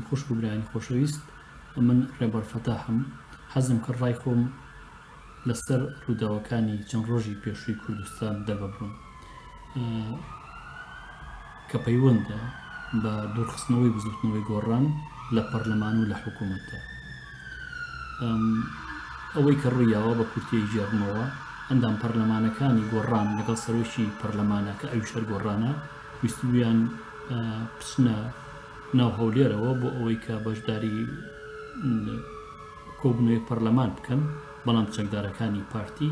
خوشک و برایانی خۆشەویست من ڕێبەر فەتاحم حەزم کرد ڕای خۆم لەسەر ڕووداوەکانی چەند ڕۆژی پێشووی کوردستان دەرببڕم کە پەیوەندە بە دوورخستنەوەی بزوتنەوەی گۆڕان لە پەرلەمان و لە حکوومەتدا ئەوەی کە ڕوویاوە بە کورتی گێڕمەوە ئەندام پەرلەمانەکانی گۆڕان لەگەڵ سەرۆکی پەرلەمانە کە ئەوی شەر گۆڕانە ویستویان پچنە ناو هەولێرەوە بۆ ئەوەی کە بەشداری کۆبنەوەی پەرلەمان بکەن بەڵام چەکدارەکانی پارتی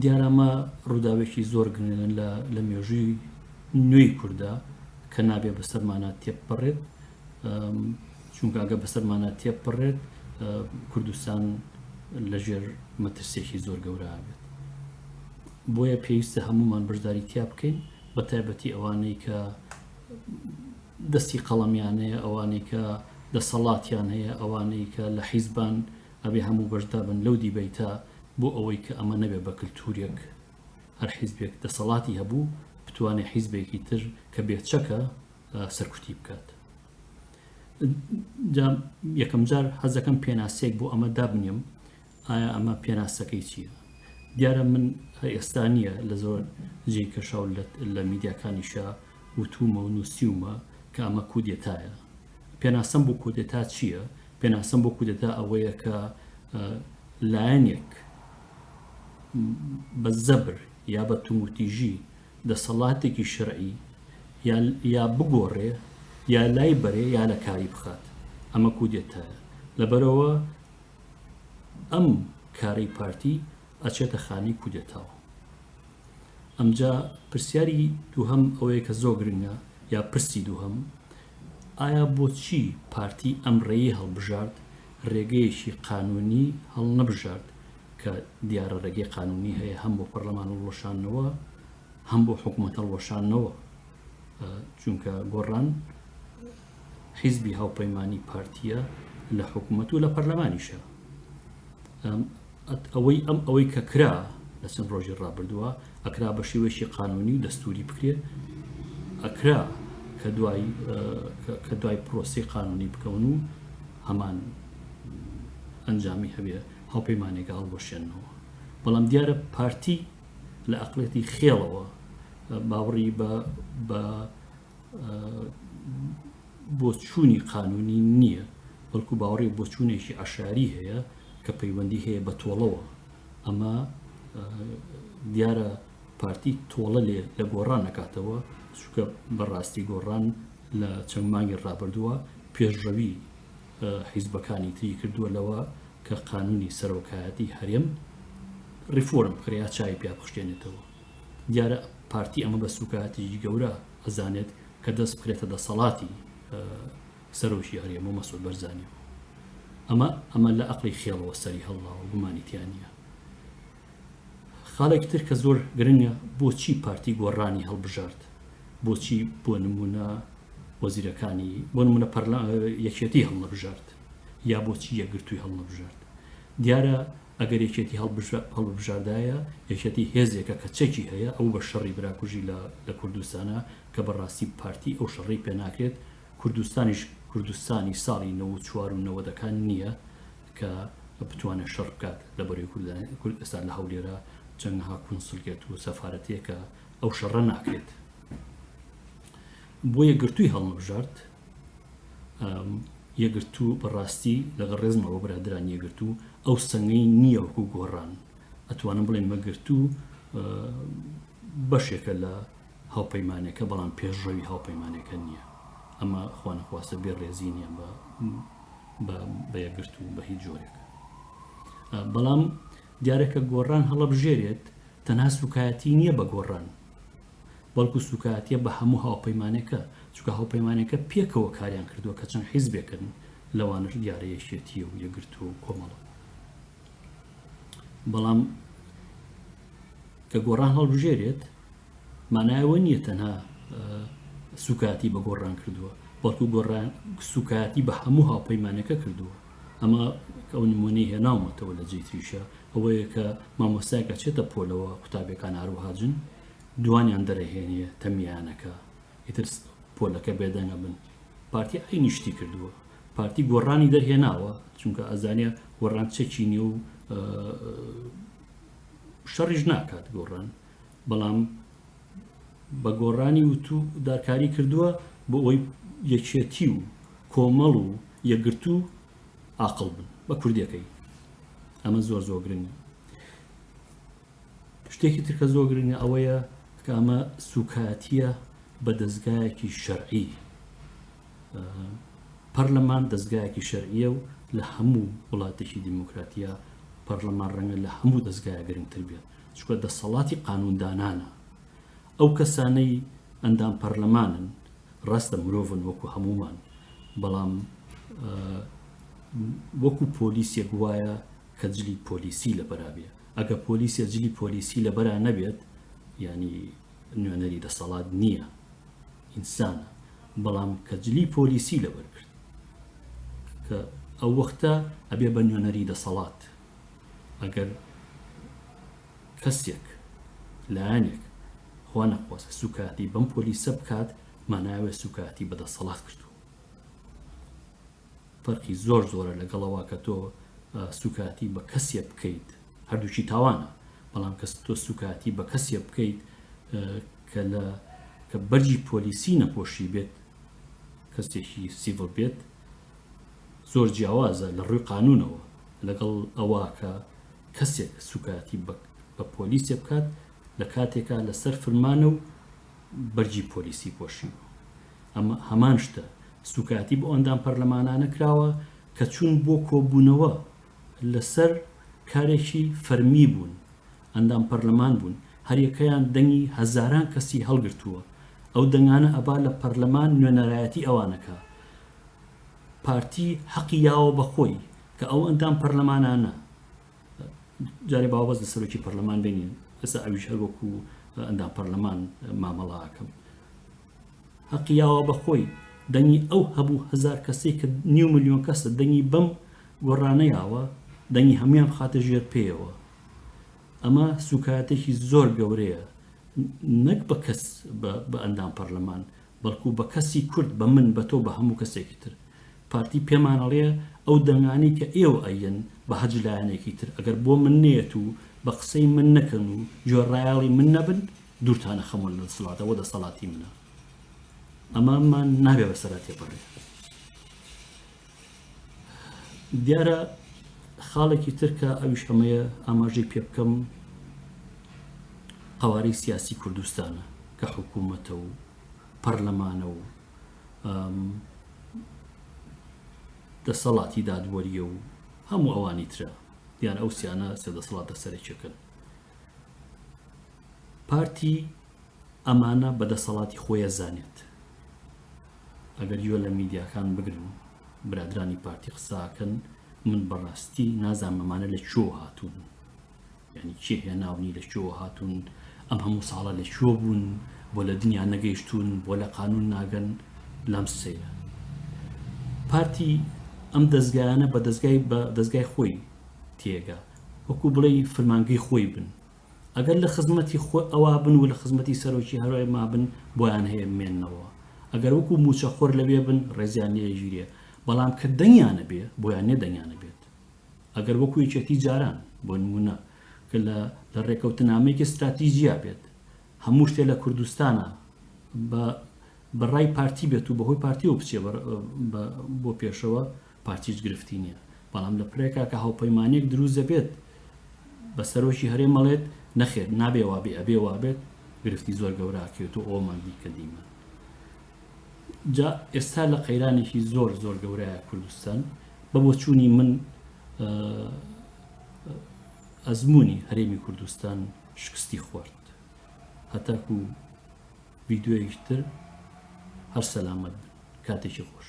دیارە ئەمە ڕووداوێکی زۆر گرنگن لە مێژووی نوێی کووردا کە نابێ بەسەرمانە تێپەڕێت چونکە ئەگە بەسەرمانە تێپەڕێت کوردستان لەژێر مەترسێکی زۆر گەورە بێت بۆیە پێویستە هەمومان بەشداری تیا بکەین بە تایبەتی ئەوانەی کە دەستی قەڵەمیانەیە ئەوانەی کە دەسەڵاتیان هەیە ئەوانەی کە لە حیزبان ئەبێ هەموو بەشدابن لەو دیبەیتە بۆ ئەوەی کە ئەمە نەبێ بە کلتورێک هەر حیزبێک دەسەڵاتی هەبوو بتوانێ حیزبێکی تر کە بێ چەکە سەرکوتی بکات یەکەم جار حەزەکەم پێناسێک بۆ ئەمە دابنیم ئایا ئەمە پێناسەکەی چییە دیارە من ئێستا نییە لە زۆر جێی کەشاو لە میدیاکانیشە وتوومە و نووسیومە کە ئەمە کودێتایە. پێناسەم بۆ کودێتا چییە؟ پێناسەم بۆ کودێتا ئەوەیە کە لایەنێک بە زەبر یا بە تومورتیژی دەسەڵاتێکی شەرعی یا بگۆڕێ یا لای بەرێ یا لە کاری بخات ئەمە کودێتایە لەبەرەوە ئەم کارەی پارتی ئەچێتە خانەی کودێتاوە ئەمجا پرسیاری دووهەم ئەوەیە کە زۆر گرنگە یا پرسی دووهەم ئایا بۆچی پارتی ئەم ڕێی هەڵبژارد ڕێگەیەکی قانونی هەڵنەبژارد کە دیارە ڕێگەی قانونی هەیە هەم بۆ پەرلەمان هەڵوەشانەوە هەم بۆ حکوومەت هەڵوەشانەوە چونکە گۆڕان حیزبی هاوپەیمانی پارتیە لە حکوومەت و لە پەرلەمانیشە ئەوەی ئەم ئەوەی کە کرا لە چەند ڕۆژی ڕابردووە ئەکرا بە شێوەیەکی قانونی و دەستوری بکرێت ئەکرا کە دوای کە دوای پرۆسی قانونی بکەون و هەمان ئەنجامی هەبێ هاوپەیمانێکە هەڵبەشێنەوە بەڵام دیارە پارتی لە ئەقلێتی خێڵەوە باوڕی بە بۆچوونی قانونی نییە بەڵکو باوەڕی بۆچوونێکی عشاری هەیە کە پەیوەندی هەیە بە تۆڵەوە ئەمە دیارە پارتی تۆڵە لێ لە گۆڕان نکاتەوە چکە بەڕاستی گۆڕان لە چەند مانگی ڕابردووە پێشڕەوی حیزبەکانی تری کردووە لەوە کە قانونی سەرۆکایەتی هەرێم ریفۆرم بکرێت چای پیا بخشتێنێتەوە دیارە پارتی ئەمە بە سوکایەتێکی گەورە ئەزانێت کە دەست بکرێتە دەسەڵاتی سەرۆکی هەرێم بۆ مەسود بەرزانانی ئەمە ئەمە لە ئەقلی خێڵەوە سەری هەڵڵاوە گومانیتیانە خاڵێکی تر کە زۆر گرنگە بۆچی پارتی گۆڕانی هەڵبژارد بۆچی بۆ نمونە وەزیرەکانی بۆ نمونە پەرلا یەکێتی هەڵنەبژارد یا بۆچی یەکگرتووی هەڵنەبژارد دیارە ئەگەر یەکێتی هەڵببژاردایە، یەکێتی هێزێکە کە چەکی هەیە، ئەوو بە شەڕی براکوژی لە لە کوردستانە، کە بە ڕاستی پارتی ئەو شەڕەی پێ ناکرێت، کوردستانیش کوردستانی ساڵی نەوەد و چوار و نەوەدەکان نییە کە بتوانێت شەڕ بکات لە بەرەی کورد، ئێستا لە هەولێرە چەنەها کونسلگەت و سەفارەت هەیە کە ئەو شەڕە ناکرێت. بۆیە گرتووی هەڵنەبژارد. یەگرتو بەڕاستی لەگە ڕێزمە بۆ برادران یەگرتو ئەو سەنگەی نییە وەکو گۆڕان ئەتوانم بڵێ مەگرتو بەشێکە لە هاوپەیمانەکە بەڵام پێشڕەوی هاوپەیمانەکە نییە ئەمە خوانەخواستە بێ ڕێزی نییە بە بە یەگرت و بە هیچ جۆرێک بەڵام دیارەکە گۆڕان هەڵبژێرێت تەنها سوکایەتی نییە بە گۆڕان بەڵکو سوکایەتیە بە هەموو هاوپەیمانێکە چونکە هاوپەیمانێکە پێکەوە کاریان کردوە کە چەند حیزبێکن لەوانەش دیارە یەکێتی و یەکگرتو و کۆمەڵە بەڵام کە گۆڕان هەڵبژێرێت مانایەوە نییە تەنها سوکاتی بە گۆڕان کردووە بەڵکو گۆڕان سوکاتی بە هەموو هاوپەیمانەکە کردووە ئەمە ئەو نمونەی هێناومەتەوە لە جێی تریشە ئەوەیە کە مامۆستایەک ئەچێتە پۆلەوە قوتابیەکان هەروەها جن دوانیان دەرەهێنێ تەمیانەکە ئیتر پۆلەکە بێدەنگە بن پارتی ئەی نیشتی کردووە پارتی گۆڕانی دەرهێناوە چونکە ئەزانە گۆڕان چەکی نیە و شەڕیش ناکات گۆڕان بەڵام بە گۆڕانی وتو دا کاری کردووە بۆ ئەوەی یەکێتی و کۆمەڵ و یەکگرتوو ئاقڵ بن بە کوردیەکەی ئەمە زۆر زۆر گرنگە شتێکی ترکە زۆر گرنگە ئەوەیە کە ئەمە سوکاتیە بە دەستگایەکی شەرعی پەرلەمان دەستگایەکی شەرعیە و لە هەموو وڵاتێکی دیموکراتیە پەرلەمان ڕەنگە لە هەموو دەستگایە گرنگتر بێت چونکە دەسەڵاتی قانوندانانە، ئەو کەسانەی ئەندام پەرلەمانن ڕاستە مرۆڤن وەکو هەموومان، بەڵام وەکو پۆلیسێک وایە کە جلی پۆلیسی لەبەرابێ، ئەگە پۆلیسێ جلی پۆلیسی لەبەرا نەبێت ینی نوێنەری دەسەڵات نییە ئینسانە، بەڵام کە جلی پۆلیسی لەبەرگرت کە ئەو وەختە ئەبێ بە نوێنەری دەسەڵات. ئەگەر کەسێک لایەنێک خوا نەخواست سوکاتی بەم پۆلیسە بکات ماناوێ سوکاتی بەدەسەڵات کردو فەرقی زۆر زۆرە لەگەڵەوە کە تۆ سوکاتی بە کەسێ بکەیت هەردووچی تاوانە بەڵام کەس تۆ سوکاتی بە کەسێ بکەیت کە لە کە بەرجی پۆلیسی نەپۆشی بێت کەسێکی سیڤڵ بێت زۆر جیاوازە لە ڕووی قانوونەوە لەگەڵ ئەوە کە کەسێک سوکایەتی بە پۆلیسێ بکات لە کاتێکا لەسەر فرمانە و بەرگی پۆلیسی پۆشیوە ئەمە هەمان شتە سوکایەتی بۆ ئەندام پەرلەمانانە کراوە کە چوون بۆ کۆبوونەوە لەسەر کارێکی فەرمی بوون ئەندام پەرلەمان بوون هەریەکەیان دەنگی هەزاران کەسی هەڵگرتووە ئەو دەنگانە ئەبا لە پەرلەمان نوێنەرایەتی ئەوانە کا پارتی هەقی یاوە بە خۆی کە ئەو ئەندام پەرلەمانانە جارێ باوەز لە سەرۆکی پەرلەمان بینین ئەسا ئەویش هەر وەکو ئەندام پەرلەمان مامەڵاکەم هەقی یاوە بە خۆی دەنگی ئەو هەبوو هزار کەسی کە نیو میلیۆن کەسە دەنگی بەم گۆڕانەیەوە دەنگی هەمویان خاتە ژێر پێیەوە ئەمە سوکایەتێکی زۆر گەورەیە نەک بە کەس بە ئەندام پەرلەمان بەڵکو بە کەسی کورد بە من بە تۆ بە هەموو کەسێکی تر پارتی پێمانەڵەیە ئەو دەنگانی کە ئێوە ئەیەن بە هەج لایەنێکی تر ئەگەر بۆ من نێت و بە قسەی من نەکەن و جۆرڕایاڵی من نەبن دوورتانە خەمۆن لە سڵاتەوە دەسەڵاتی منە ئەمامان نابێ بەسەرا تێپەڕێت دیارە خاڵێکی تر کە ئەویش ئەمەیە ئاماژەی پێ بکەم قوارەی سیاسی کوردستانە کە حکوومەتە و پەرلەمانە و دەسەڵاتی دادوەریە و هەموو ئەوانی ترە دیان ئەو سیانە سێ دەسەڵاتە سەرێکەکەن پارتی ئەمانە بە دەسەڵاتی خۆیە زانێت ئەگەر گوێ لە میدیاکان بگرن برادرانی پارتی قساکەن من بەڕاستی نازانم ئەمانە لە چۆ هاتوون یعنی چێ هێناونی لە چۆ هاتوون ئەم هەموو ساڵە لە چۆ بوون بۆ لە دنیا نەگەیشتوون بۆ لە قانون ناگەن لام سەیرە پارتی ئەم دەستگایانە بە دەستگای بە دەستگای خۆی تێگا وەکو بڵێ فرمانگەی خۆی بن ئەگەر لە خزمەتی خۆ ئەوا بن و لە خزمەتی سەرۆکی هەرای مابن بۆیان هەیە بمێنەوە ئەگەر وەکو موچە خۆر لەوێ بن ڕێزیان لێ ئەگیرێ بەڵام کە دەنگیان نەبێ بۆیان نیە دەنگیان نەبێت ئەگەر وەکو یەکێتی جاران بۆ نمونە کە لە لە ڕێکەوتنامەیەکی ستراتیژیا بێت هەموو شتێ لە کوردستانە بە بەڕای پارتی بێت و بەهۆی پارتیەوە بچێ بۆ پێشەوە پارتی هیچ گرفتی نیە بەڵام لە پرێکا کە هاوپەیمانیەک دروست دەبێت بە سەرۆکی هەرێم ئەڵێت نەخێر نابێ وابێ ئەبێ وابێت گرفتی زۆر گەورە ئەکرێت و ئەومان بی کە دیمە جا ئێستا لە قەیرانێکی زۆر زۆر گەورەیە کوردستان بە بۆچوونی من ئەزمموی هەرێمی کوردستان شکستی خوارد هەتاکو ویددیوەیەکتر هەر سەلامەت کاتێکی خۆش